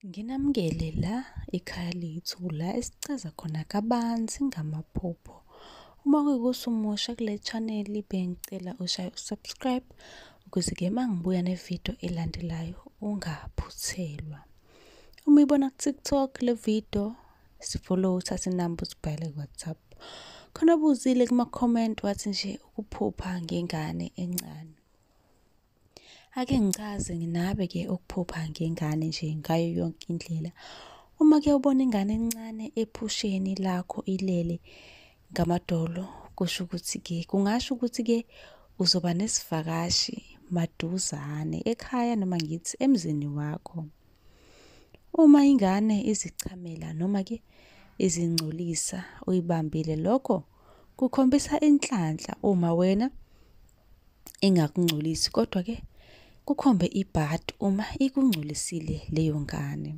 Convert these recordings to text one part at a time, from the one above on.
Nginamukele la ekhaya lethu la esichaza khona kabanzi ngamaphupho. Uma kuyikuthi umusha kule channel bengicela ushaye usubscribe ukuze ke mangibuya nevideo elandelayo ungaphuthelwa. Uma ibona ku-TikTok le video sifollow uthathe inamba usibhale ku-WhatsApp. Khona buzile kuma-comment wathi nje ukuphupha ngengane encane. Ake ngichaze nginabe ke ukuphupha ngengane nje ngayo yonke indlela. Uma ke ubona ingane encane ephusheni lakho ilele ngamadolo kusho ukuthi ke kungasho ukuthi ke uzoba nesivakashi maduzane ekhaya noma ngithi emzini wakho. Uma ingane izichamela noma ke izingcolisa uyibambile lokho kukhombisa inhlanhla uma wena ingakungcolisi kodwa ke kukhombe ibhad uma ikungcolisile leyo ngane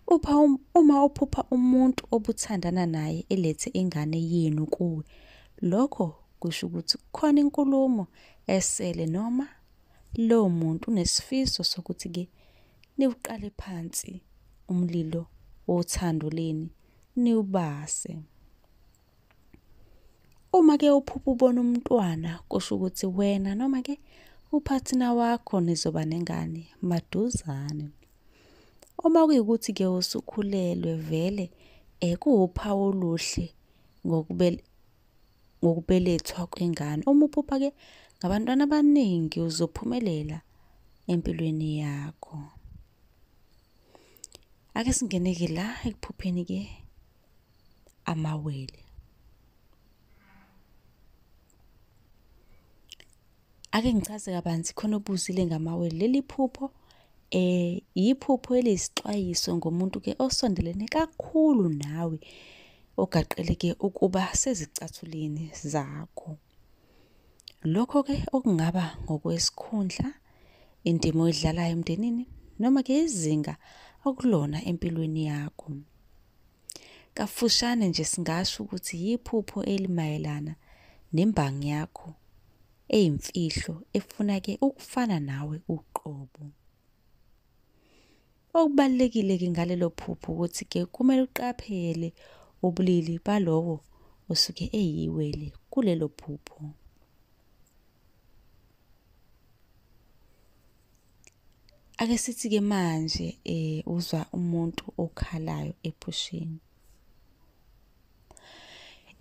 upha um, uma uphupha umuntu obuthandana naye elethe ingane yenu kuwe lokho kusho ukuthi kukhona inkulumo esele noma lowo muntu unesifiso sokuthi ke niwuqale phansi umlilo wothando leni niwubase Uma ke uphupha ubona umntwana kusho ukuthi wena noma ke uphathina wakho nizoba nengane maduzane. Uma kuyikuthi ke usukhulelwe vele eh kuwuphawu oluhle ngokubelethwa kwengane. Uma uphupha ke ngabantwana abaningi uzophumelela empilweni yakho. Ake singene ke la ekuphupheni ke. amawele. Ake ngichaze kabanzi khona obuzile ngamawele. Leli phupho eh yiphupho eliyisixwayiso ngomuntu ke osondelene kakhulu nawe ogaqeleke ukuba sezicathuleni zakho. Lokho ke okungaba ngokwesikhundla, indima oyidlalayo emndenini noma ke izinga okulona empilweni yakho. Kafushane nje singasho ukuthi yiphupho elimayelana nembangi yakho eyimfihlo efuna ke ukufana nawe uqobo. Okubalulekile-ke ngalelo phupho ukuthi-ke kumele uqaphele ubulili balowo osuke eyiwele kulelo phupho. Ake sithi-ke manje um uzwa umuntu okhalayo ephusheni.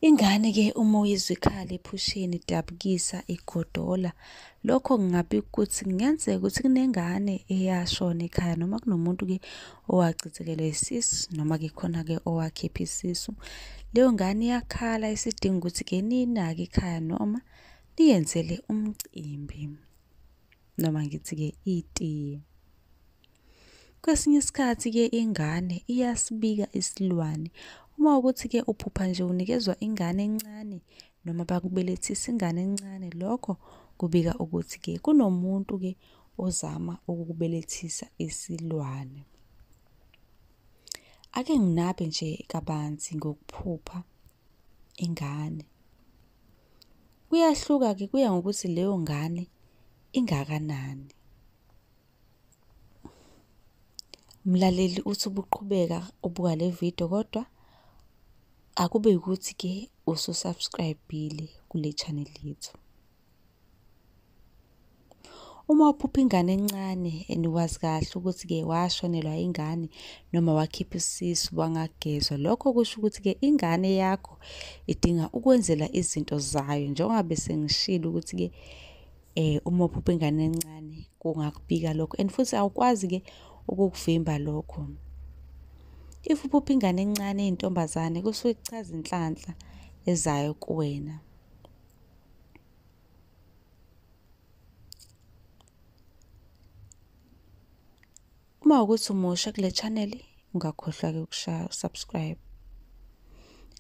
Ingane ke uma uyizwa ikhala ephusheni idabukisa igodola lokho kungabi ukuthi kungenzeka ukuthi kunengane eyashona ekhaya noma kunomuntu ke owachithekelwe isisu noma ke khona ke owakhipha isisu leyo ngane iyakhala isidinga ukuthi ke ninake ikhaya noma niyenzele umcimbi noma ngithi-ke itiye. Kwesinye isikhathi-ke ingane iyasibika isilwane. Uma ukuthi-ke uphupha nje unikezwa ingane encane noma bakubelethisa ingane encane, lokho kubika ukuthi-ke kunomuntu-ke ozama ukukubelethisa isilwane. Ake nginabe nje kabanzi ngokuphupha. ingane. Kuyahluka-ke kuya ngokuthi leyo ngane ingakanani. Mlaleli uthi ubuqhubeka ubuka le video kodwa akube ukuthi-ke ususubscribe-ile kule channel yethu. Uma uphupha ingane encane and wazi kahle ukuthi-ke washonelwa ingane noma wakhipha isisu wangagezwa, lokho kusho ukuthi-ke ingane yakho idinga ukwenzela izinto zayo njengoba bese ngishilo ukuthi-ke eh uma uphupha ingane encane kungakubika lokho and futhi awukwazi-ke ukukuvimba lokho. If uphupha ingane encane eyintombazane kusuke kuchaza inhlanhla ezayo kuwena. Uma ukuthi umusha kule channel ungakhohlwa-ke ukushaya usubscribe.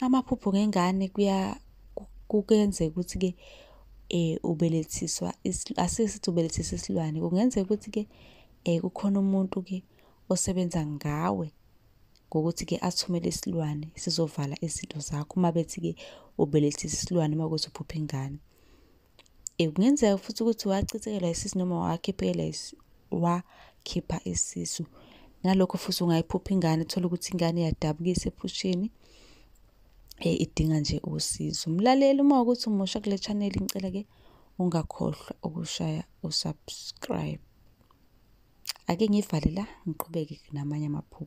Amaphupho ngengane kuya kukenzeka ukuthi-ke eh ubelethiswa asike sithi ubelethisa isilwane kungenzeka ukuthi-ke eh kukhona umuntu-ke osebenza ngawe ngokuthi-ke athumele isilwane sizovala izinto zakho uma bethi-ke ubelethisa isilwane uma kuthi uphupha ingane eh, kungenzeka futhi ukuthi wachithekelwa isisu noma wakhiphela wakhipha isisu nalokho futhi ungayiphupha ingane uthole ukuthi ingane iyadabukisa ephusheni eh, idinga nje usizo mlaleli uma ukuthi umusha kule channel ngicela-ke ungakhohlwa ukushaya usubscribe ake ngivale la ngiqhubeke namanye amaphupho